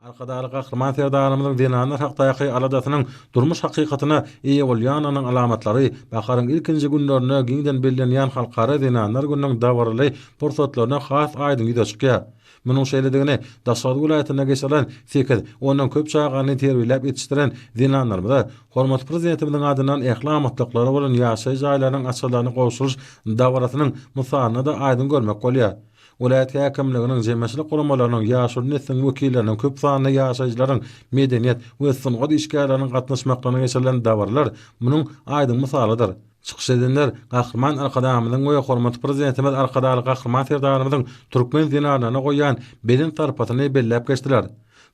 Arkadagly Gahryman Serdarymyzyň zenanlar hakdaky aladasynyň durmuş hakykatyna eýe bolýanynyň alamatlary baharyň ilkinji günlerinde giňden bellenýän Halkara zenanlar gününiň dabaraly pursatlarynda has aýdyň ýüze çykýar. Munuň şeýledigini Daşoguz welaýatynda geçirilen sekiz, ondan köp çagany terbiýeläp ýetişdiren zenanlarymyza hormatly Prezidentimiziň adyndan ähli amatlyklary bolan ýaşaýyş jaýlarynyň açarlaryny gowşuryş dabarasynyň mysalynda-da aýdyň görmek bolýar. Welaýat häkimliginiň, jemgyýetçilik guramalarynyň, ýaşuly nesliň wekilleriniň, köp sanly ýaşaýjylaryň, medeniýet we sungat işgärleriniň gatnaşmaklygyna geçirilen dabaralar munuň aýdyň mysalydyr. Çykyş edenler Gahryman Arkadagymyzyň we hormatly Prezidentimiz Arkadagly Gahryman Serdarymyzyň türkmen zenanlaryna goýýan belent sarpasyny belläp geçdiler.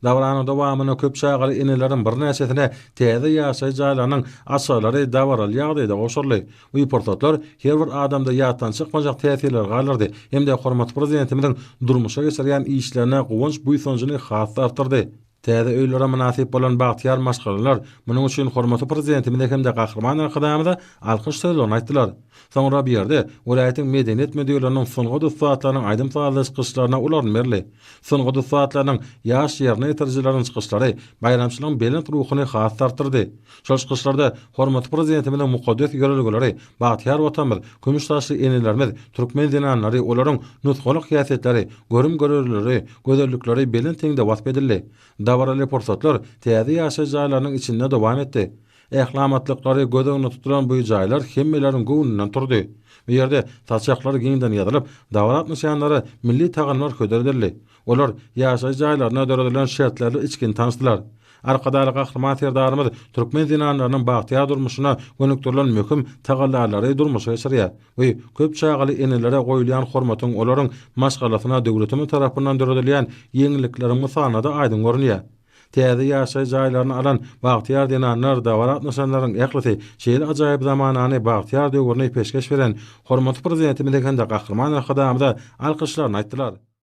Dabaranyň dowamynda köp çagaly eneleriň birnäçesine täze ýaşaýyş jaýlarynyň açarlary dabaraly ýagdaýda gowşuryldy. Bu pursatlar her bir adamda ýatdan çykmajak täsirleri galdyrdy hem-de hormatly Prezidentimiziň durmuşa geçirýän işlerine guwanç-buýsanjyny has-da artdyrdy. Täze öýlere mynasyp bolan bagtyýar maşgalalar munuň üçin hormatly Prezidentimize hem-de Gahryman Arkadagymyza alkyş sözlerini aýtdylar. Soňra bu ýerde welaýatyň medeniýet müdirliginiň sungat ussatlarynyň aýdym-sazly çykyşlaryna ulaln berildi. Sungat ussatlarynyň, ýaş ýerine ýetirijileriň çykyşlary baýramçylygyň belent ruhuny has-da artdyrdy. Şol çykyşlarda hormatly Prezidentimiziň mukaddes ýörelgeleri, bagtyýar Watanymyz, kümüş saçly enelerimiz, türkmen zenanlary, olaryň nusgalyk häsiýetleri, görüm-görelgeleri, gözellikleri belent heňde wasp edildi. Dabaraly pursatlar täze ýaşaýyş jaýlarynyň içinde dowam etdi. Ählamatlyklary göz öňünde tutulan bu jaýlar hemmeleriň göwnünden turdy. Bu ýerde saçaklar giňden ýazylyp, dabara gatnaşýanlara milli tagamlar hödür edildi. Olar ýaşaýyş jaýlarynda döredilen şertlerle içgin tanyşdylar. Arkadagly Gahryman Serdarymyz türkmen zenanlarynyň bagtyýar durmuşyna gönükdirilen möhüm tagallalary durmuşa geçirýär we köp çagaly enelere goýulýan hormatyň olaryň maşgalasyna döwletimiz tarapyndan döredilýän ýeňillikleriň mysalynda-da aýdyň görünýär. Täze ýaşaýyş jaýlaryny alan bagtyýar zenanlar dabara gatnaşanlaryň ählisi şeýle ajaýyp zamanany, bagtyýar döwürni peşgeş beren Hormatly Prezidentimize hem-de Gahryman Arkadagymyza alkyşlaryny aýtdylar.